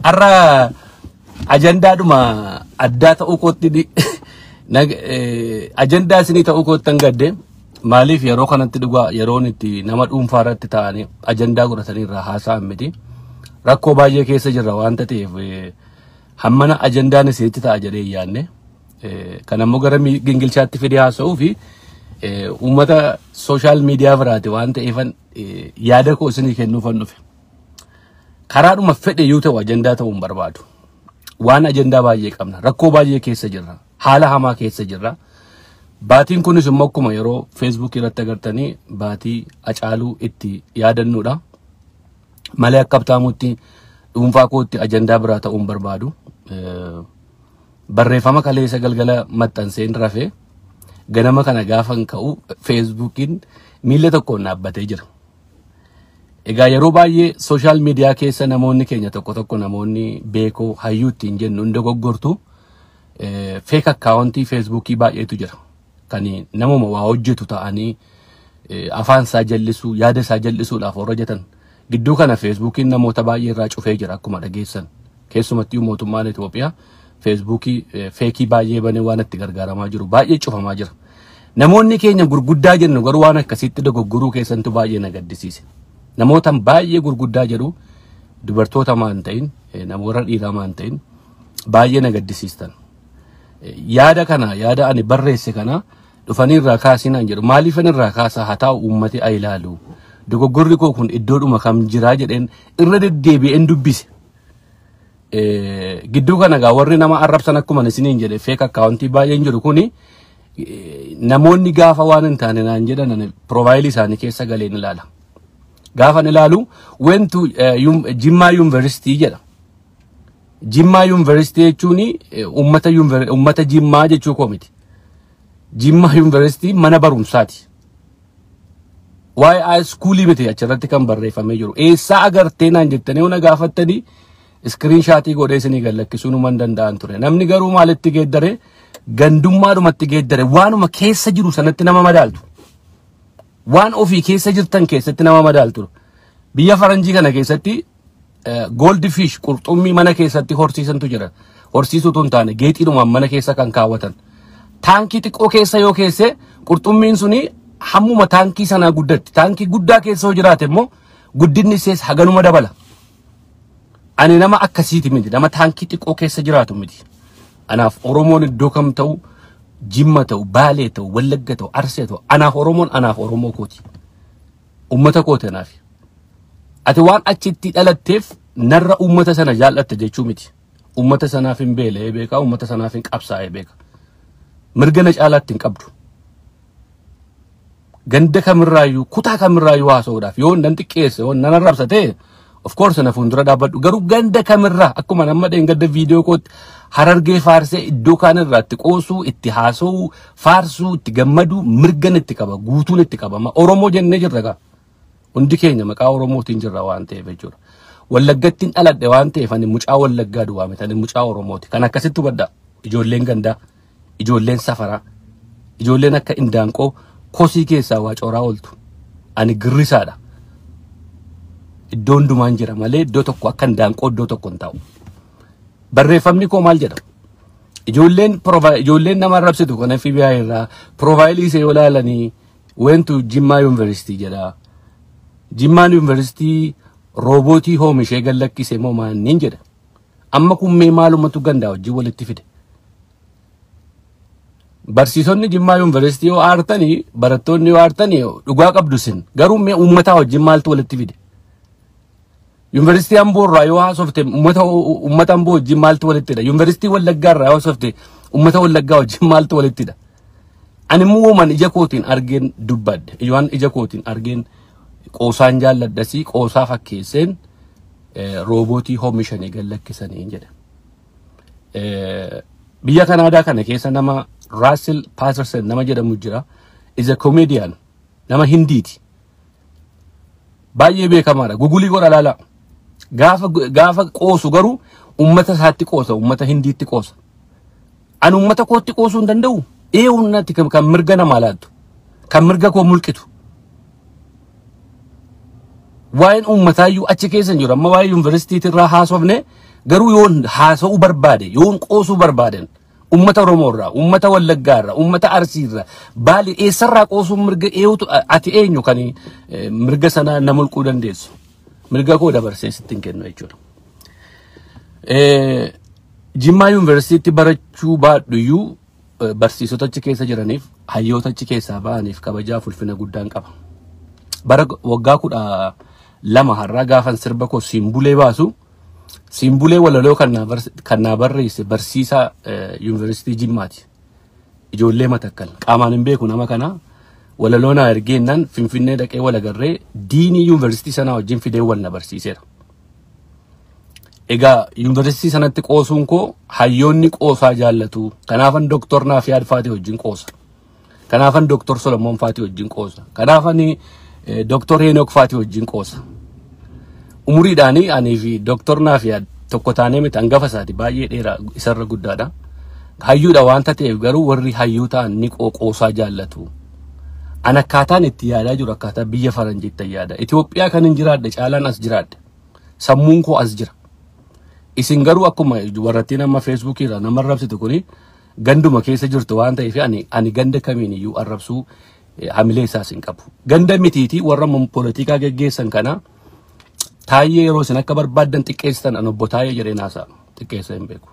Har'a ajandaadhuma addaa ta'uu kootti di- nag- eh, ajandaa isinii ta'uu kootti hin gadde maaliif yeroo kanatti dhugaa yeroon itti nama dhuunfaa irratti taa'anii ajandaa godhatanii irraa haasa'an miti rakkoo baay'ee keessa jirra waan ta'eef eh, hammana ajandaan isinitti ta'a jedhee hin yaadne Kan ammoo gara gingilchaatti fidee haasa'uu fi uummata sooshaal miidiyaa biraati waan ta'eefan yaada koo isinii kennuufan dhufe. Karaadhuma fedhe yoo ta'u ajandaa ta'uu hin barbaadu. Waan ajandaa baay'ee qabna. Rakkoo baay'ee keessa jirra. Haala hamaa keessa jirra. Baatiin kunis immoo akkuma yeroo Facebook irratti agartanii baatii acaaluu itti yaadannuudha. Malee akka abtaamutti dhuunfaa kootti ajandaa biraa ta'uu hin barbaadu. Barreeffama kaleessa galgala maxxanseen rafe ganama kana gaafan ka'u feesbuukiin miila tokkoon dhaabbatee jira. Egaa yeroo baay'ee sooshaal miidiyaa keessa namoonni keenya tokko tokko namoonni beekoo hayyuu ittiin jennu hin dogoggortu feek akkaawuntii feesbuukii baay'eetu jira. kan namuma waa hojjetu ta'anii eh, afaan isaa jallisuu yaada isaa jallisuudhaaf warra jetan gidduu kana feesbuukiin namoota baay'ee irraa cufee jira akkuma dhageessan keessumattuu mootummaan Itoophiyaa feesbuukii eh, feekii baay'ee banee waan itti gargaaramaa jiru baay'ee cufamaa jira namoonni keenya gurguddaa jennu garuu waan akkasitti dogoggoruu keessantu baay'ee na gaddisiise namootan baay'ee gurguddaa jedhu dubartoota maan ta'in eh, namoota dhiiraa maan ta'in baay'ee na gaddisiistan yaada kana yaada ani barreesse kana dhufanii irraa kaasii naan jedhu maaliifan irraa kaasaa haa taa'u uummati haa ilaalu dogoggorri koo kun iddoodhuma kam jiraa jedheen irra deddeebi'een dubbise. Eh, Gidduu kana egaa warri nama arrabsan akkuma isiniin jedhe feek akkaawuntii baay'een jiru kuni eh, namoonni gaafa waan hin taane naan jedhan ani piroofaayilii isaanii keessa galeen ilaala. Gaafan ilaalu went to eh, yum- Jimmaa Yuunivarsiitii jedha. Jimmaa Yuunivarsiitii jechuun uummata yuunivar- uummata Jimmaa jechuu koo miti. Jimmaa Yuunivarsiitii mana barumsaati. Waa'ee high schoolii miti achirratti kan barreeffamee jiru. Eessaa agartee naan jettanii yoo na gaafattanii iskiriin shaatii godhee isinii gallakkisuu numan danda'an ture. Namni garuu maalitti geeddare gandummaadhumatti geeddare waanuma keessa jiru sanatti nama madaaltu. Waan ofii keessa jirtan keessatti nama madaaltu. Biyya faranjii kana keessatti Gold fish qurxummii mana keessatti horsiisantu jira. Horsiisuu tun taane geexiidhumaan mana keessa kan kaawwatan. Taankii xiqqoo keessa yoo keesse qurxummiin suni hammuma taankii sanaa guddatti. Taankii guddaa keessa yoo jiraate immoo guddinni ishees haganuma dabala. Ani nama akkasiiti miti. Nama taankii xiqqoo keessa jiraatu miti. Anaaf Oromoon iddoo kam ta'u Jimma ta'u, Baalee ta'u, Wallagga ta'u, Arsee ta'u, anaaf Oromoon anaaf Oromoo kooti. Ummata kooti anaaf. Ati waan achitti dhalatteef narra ummata sana jaallatta jechuu miti. Ummata sanaaf hin beela'ee beeka, ummata sanaaf hin qabsaa'ee beeka. Mirga na caalaatti hin qabdu. Ganda kamirraayyuu, kutaa kamirraayyuu haasa'uudhaaf yoo nan xiqqeesse, yoo nan arrabsa ta'e Of course na fuuldura dhaabbadhu garuu ganda kamirraa akkuma amma dheengadda viidiyoo kootti harargee faarsee iddoo kaan irraa itti qoosuu itti haasa'uu faarsuu itti gammaduu mirgan itti qaba guutuun itti qabama Oromoo jennee jirra gaa hundi keenya maqaa Oromootiin jirra waan ta'eef jechuudha. Wallaggattiin dhaladhe waan ta'eef ani mucaa Wallaggaa duwwaa miti ani mucaa Oromooti kan akkasitti hubadha ijoolleen gandaa ijoolleen safaraa ijoolleen akka indaanqoo kosii keessaa waa cooraa ooltu ani girrisaadha iddoo hundumaan jira malee iddoo tokko akka indaanqoo iddoo tokko hin taa'u barreeffamni koo maal jedha ijoolleen prova- ijoolleen nama arrabsitu kan FBI irraa piroofaayilii ishee yoo ilaalanii weentu jimmaa yuunivarsiitii jedha jimmaan yuunivarsiitii roobootii hoomishee gallakkise moo maanniin jedha Amma kun mee maalumatu gandaa wajjin walitti fide. Barsiisonni Jimmaa Yuunivarsiitii yoo aartanii barattoonni yoo aartanii dhugaa qabdu isin garuu mee uummataa wajjin maaltu walitti fide. Yuunivarsiitii Amboo irraa yoo haasofte uummata uummata Amboo wajjin maaltu walitti hidha. Yuunivarsiitii Wallaggaa irraa yoo haasofte uummata Wallaggaa wajjin maaltu walitti hidha. Ani immoo waan ija kootiin argeen dubbadhe. Waan ija kootiin argeen qoosaan jaalladhasii qoosaa fakkeesseen roobootii hoomishanii gad lakkisanii jedha. Biyya Kanaadaa kana keessa nama Russell Patterson nama jedhamu jira. Is a comedian. Nama Hindiiti. Baay'ee beekamaadha. Gugulii godha laala. Gaafa gaafa qoosu garuu uummata isaatti qoosa, uummata Hindiitti qoosa. Ani uummata kootti qoosuu hin danda'u. Ee uummatatti kan kan mirga namaa laattu. Kan mirga koo mulqitu. Waa'een uummataayyuu achi keessa hin jiru. Amma waa'ee yuunivarsiitiitti irraa haasofne garuu yoon haasa'uu barbaade yoon qoosuu barbaaden uummata Oromoo irraa, uummata Wallaggaa irraa, uummata Arsii irraa baali eessarraa qoosuun mirga eewutu ati eenyu kan eh, mirga sana na mulquu dandeessu. Mirga koo dabarsee sitti hin kennu jechuudha. Eh, Jimmaa yuunivarsiitiitti barachuu baadhuyyuu eh, barsiisota achi keessa jiraniif hayyoota achi keessaa ba'aniif kabajaa fulfina guddaan qaba. Bara g- waggaa kudha lama har'aa gaafan sirba koo simbulee baasu simbulee walaloo kan naa bars- kan naa barreesse barsiisaa eh, yuunivarsiitii Jimmaati. ijoollee matakkal qaamaan hin beeku nama kana walaloo naa ergeennan finfinnee dhaqee wal agarree diinii yuunivarsiitii sanaa wajjin fidee wal na barsiiseera. Egaa yuunivarsiitii sanatti qoosuun koo hayyoonni qoosaa jaallatu. Kanaafan doktor Naafiyaad Faatii wajjin qoosa. Kanaafan doktor Solomoon Faatii wajjin qoosa. Kanaafan doktor Heenok Faatii wajjin qoosa. Umuriidhaanii anii fi Dooktor Naafiyaad tokko taanee miti hangafa isaati baay'ee dheeraa isarra guddaadha. Hayyuudha waan ta'eef garuu warri hayyuu ta'an ni qooqoosaa jaallatu. An akkaataan itti yaadaa jiru akkaataa biyya faranjiitti yaada. Itoophiyaa kan hin jiraadhe caalaan as jiraadhe. Sammuun koo as jira. Isin garuu akkuma warrattiin amma feesbuukii irraa nama arrabsitu kuni ganduma keessa jirtu waan ta'eef ani ani ganda kamiin iyyuu arrabsuu eh, hamilee isaas hin qabu. Ganda mitiitii warra polotikaa geggeessan kana Taayyee yeroo isin akka barbaaddan xiqqeessitan an obbo Taayyee jedhee naasaa xiqqeessa hin beeku.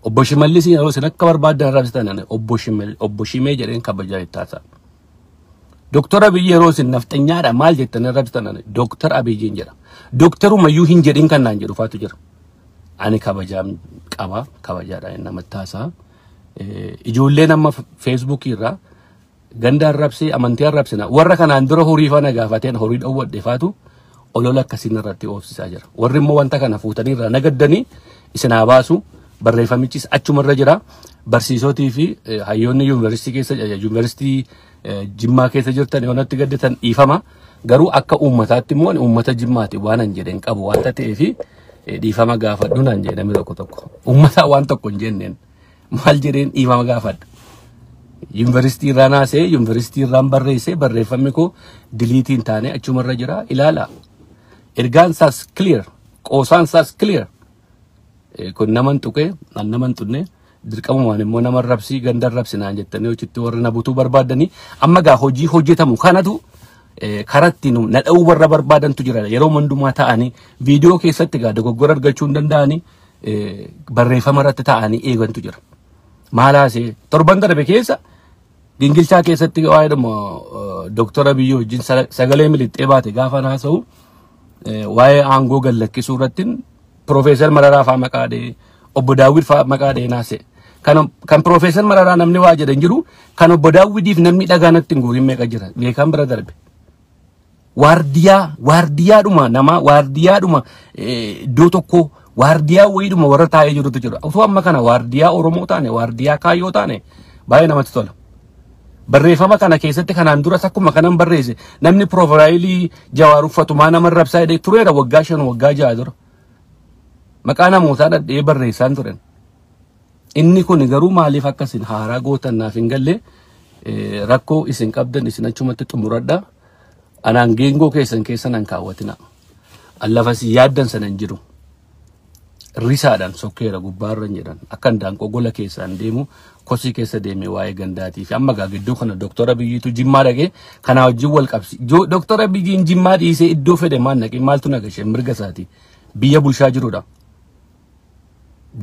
Obbo Shimallis yeroo isin akka barbaaddan arrabsitan an obbo Shimel- obbo Shimee jedheen kabajaa itti haasaa. Doktar Abiy yeroo isin nafxanyaadha maal jettan arrabsitan an Doktar Abiyyiin jedha. Doktarumayyuu hin jedhin kan naan jedhu faatu jira. Ani kabajaan qaba kabajaadhaan namatti haasaa. Eh, Ijoolleen amma feesbuukii irraa Ganda arrabsee amantii arrabsina. Warra kanaan dura horii faana gaafateen horii dhowwadhe faatu olola akkasiin irratti oofsisaa jira. Warri immoo wanta kana fuutanii irraa nagaddanii isin haa baasu. Barreeffamichis achuma irra jira. Barsiisotii fi eh, hayyoonni yuunivarsiitii keessa eh, yuunivarsiitii eh, Jimmaa keessa jirtan yoo natti gaddatan dhiifama. Garuu akka uummataatti immoo ani uummata Jimmaati waan hin jedheen qabu wanta ta'eef eh, dhiifama gaafadhu naan jedhe namni tokko tokko. Uummataa waan tokko hin jenneen. maal jedheen dhiifama gaafadha. Yuunivarsiitii irraa naasee yuunivarsiitii irraan barreessee barreeffamni koo diliitii hin taane achumarra jira ilaala. Ergaan isaas clear qoosaan isaas clear kun naman tuqee an naman tunne dirqamumaan immoo nama rabsii ganda rabsi naan jettanii hojitti warri na butuu barbaadanii amma gaa hojii hojjetamu kanatu karatti nu na dha'uu warra barbaadantu jira yeroo hundumaa ta'anii viidiyoo keessatti gaa dogoggora argachuu hin danda'anii eh, barreeffama irratti taa'anii eegantu jira. Maal haasee torban darbe keessa gingilchaa keessatti waa'ee dhuma Dooktar Abiyyii wajjin sa- sagalee miliqxee baate gaafa haasa'u eh, waa'ee aangoo gad lakkisuu irratti Piroofeesar Mararaa fa'aa maqaa dhee obbo Daawwid fa'aa maqaa dhee naase. Kan kan Piroofeesar Mararaa namni waa jedhan jiru kan obbo Daawwidiif namni dhagaa natti hin guurin meeqa jira beekaan bira darbe. waardiyaa waardiyaadhuma namaa waardiyaadhuma eh, iddoo tokkoo waardiyaa wayiidhuma warra taa'ee jirutu jira otoo amma kana waardiyaa oromoo taane waardiyaa kaayyoo taane baay'ee namatti tola barreeffama kana keessatti kanaan duras akkuma kanan barreesse namni piroofaayilii jawaar uffatumaa nama rabsaa jedhee tureera waggaa shan waggaa ja'a dura maqaa namootaa dhadhee barreessaan turen Inni kun garuu maaliif akka isin haaraa gootan naaf hin galle eh, rakkoo isin qabdan isin achumatti xumuradha. Anaan geengoo keessan keessa nan kaawwatina. An lafa isin yaaddan sana hin jiru. risaadhaan sokkeera gubbaarra hin jedhan akkan daanqoo gola keessaan deemu kosii keessa deemee waa'ee gandaatii fi amma gaa gidduu kana doktora biyyiitu jimmaa dhaqee kanaa wajjin wal qabsi Jo- doktora biyyiin jimmaa dhiisee iddoo fedhe maan dhaqee maaltu nagashe mirga isaati biyya bulchaa jirudha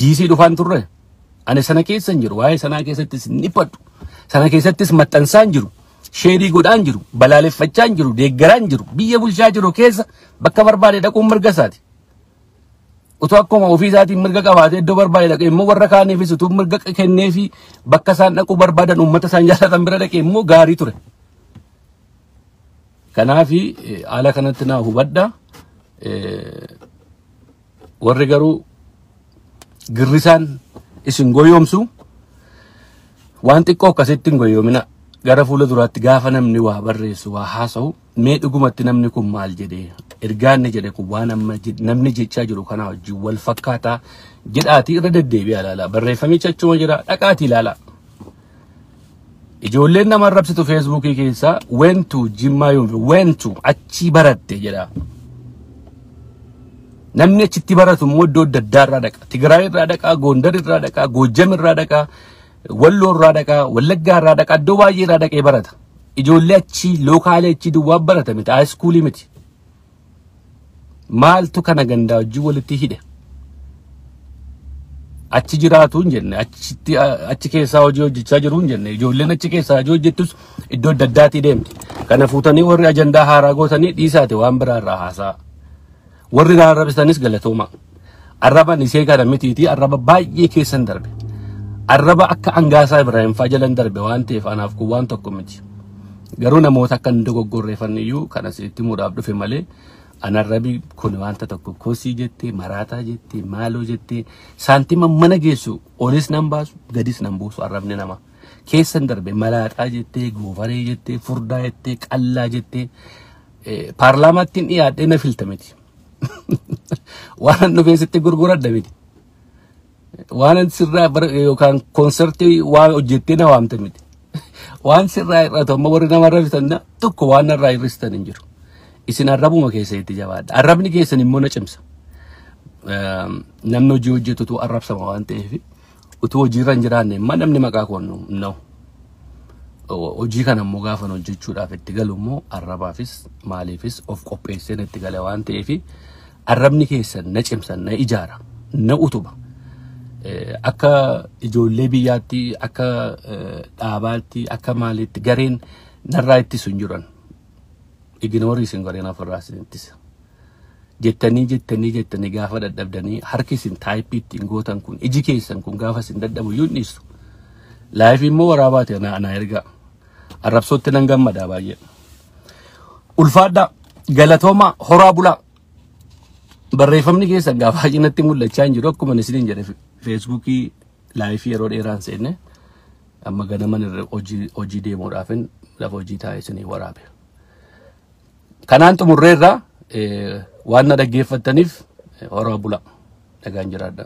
DC dhufaan turre. Ani sana keessa hin jiru. Waa'ee sanaa keessattis hin dhiphadhu. Sana keessattis maxxansaa hin jiru. Sheerii godhaa hin jiru. Balaaleffachaa hin jiru. Deeggaraa hin jiru. Biyya bulchaa jiru keessa bakka barbaade dhaquun mirga isaati. Utuu akkuma ofii isaatiin mirga qabaatee iddoo barbaade dhaqee immoo warra kaaniifis utuu mirga kennee fi bakka isaan dhaquu barbaadan uummata isaan jaalatan bira dhaqee immoo gaarii ture. Kanaafi eh, haala kanatti naa hubadha. Eh, Warri garuu girrisaan isin goyoomsu waan xiqqoo akkasitti hin goyoomina. Gara fuula duraatti gaafa namni waa barreessu waa haasa'u mee dhugumatti namni kun maal jedhe ergaan inni jedhe kun waan amma je- namni jechaa jiru kanaa wajjin wal fakkaataa jedhaatii irra deddeebi'aa ilaalaa barreeffamicha achuma jira dhaqaatii ilaalaa. Ijoolleen nama arrabsitu feesbuukii keessa weentu jimmaa yoon weentu achii baratte jedha. Namni achitti baratu immoo iddoo adda addaa irraa dhaqa. Tigraay irraa dhaqa, Goondar irraa dhaqa, Goojjam irraa dhaqa, Walloo irraa dhaqa, Wallaggaa irraa dhaqa, iddoo baay'ee irraa dhaqee barata. Ijoollee achii lookaalee achii duwwaa barata miti, haayiskuulii miti. maaltu kana gandaa wajjin walitti hidhe achi jiraatu hin jenne achitti achi keessaa hojii hojjechaa jiru hin jenne ijoolleen achi keessaa hojii hojjettus iddoo adda addaatii deemti kana fuutanii warri ajandaa haaraa gootanii dhiisaate waan biraa irraa haasaa warri raarrabisanis galatooma. Arraban isee kana mitiitii arraba baay'ee keessan darbe. Arraba akka angaasaa Ibrahim fa'aa jalan darbe waan ta'eef anaaf kun waan tokko miti. Garuu namoota akka hin dogoggorreeffanne iyyuu kan asitti muudhaaf dhufe malee anarrabi kun wanta tokko kosii jettee maraataa jettee maaloo jettee saantima mana geessu olis nan baasu gadis nan buusu arrabni nama keessan darbe malaaxaa jettee goofaree jettee furdaa jettee qallaa jettee eh, paarlaamaatti hin dhiyaadhee na filta miti. waanan dhufee sitti gurguradha miti waanan sirraa bara- yookaan konsertii waa hojjettee na waamte miti waan sirraa hir'atu amma warri nama arrabsitan na- tokko waan narraa hir'istan hin jiru isin arrabuma keessa itti jabaadha arrabni keessan immoo na cimsa Ehm, namni hojii hojjetutu arrabsama waan ta'eef utuu hojiirra hin jiraanne immoo namni maqaa koo nu hin dha'u. O- hojii kana immoo gaafan hojjechuudhaaf itti galu immoo arrabaafis maaliifis of qopheesseen itti gale waan ta'eef arrabni keessan na cimsa na ijaara na utuba Eh, akka ijoollee biyyaatti akka eh, dhaabaatti akka maaliitti gareen narraa ittisu hin jiran iginoorii isin gareen ofirraa isin ittisa jettanii jettanii jettanii gaafa dadhabdanii harki isin taayippii ittiin gootan kun iji keessan kun gaafa isin dadhabu iyyuu hin dhiistu. Laayifii immoo waraabaati anaa anaa ergaa arrabsootti nan gammadaa baay'ee. Ulfaadhaa galatoomaa horaa bulaa barreeffamni keessan gaafa baay'inatti mul'achaa hin jiru akkuma isiniin jedhe feesbuukii laayifii yeroo dheeraan seenne amma ganaman irra hojii hojii deemuudhaafin lafa hojii taa'ee isinii waraabe. Kanaan xumurreerra waan na dhaggeeffattaniif horaa bula. Nagaan jiraadha.